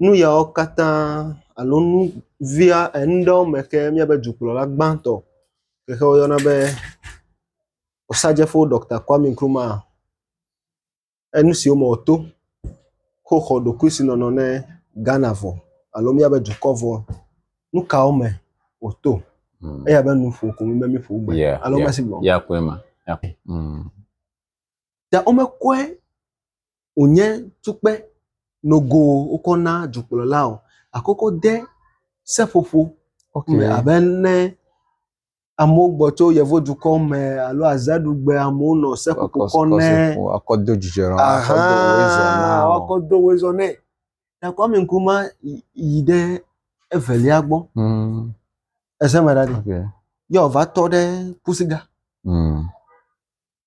nu yawo katã alo nu via nu ɖewo me ke míabe dukplɔla gbãtɔ yi ke woyɔna be Osagyefo Ɖɔkta Kwame Nkrumah enu siwo me wòto ko xɔ ɖokuisinɔnɔ ne Ghana vɔ alo míabe dukɔ vɔ. Nu kawo me wòto? Eya be nu ƒo ko be míƒo gbe Yeah, alo yeah. mesi gblɔm. Ya koe ma. Ya koe. Mm. Ta womekɔe wònye tukpe nogo wokɔ na dukplɔla o gake wokɔ de seƒoƒo me abe ne amewo gbɔ tso yevudukɔ me alo azaɖugbe amewo nɔ seƒoƒo kɔ ne woakɔ do dzidzɔ nɔ woakɔ do woe zɔ na wo. Woakɔ do woe zɔ nɛ. Ta Kwame Nkrumah yi ɖe evelia gbɔ. Mm. Ese me ɖa ɖi. Okay. Ye wòva tɔ ɖe Pusiga. Mm.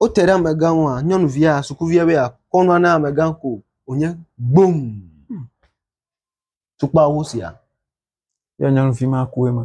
Wote ɖe amegã ŋua, nyɔnuvia, sukuvia be yeakɔ nua na amegã ko wònye gbom. Tukpa wo sia. Yɔ nyɔnuvi ma ku ema.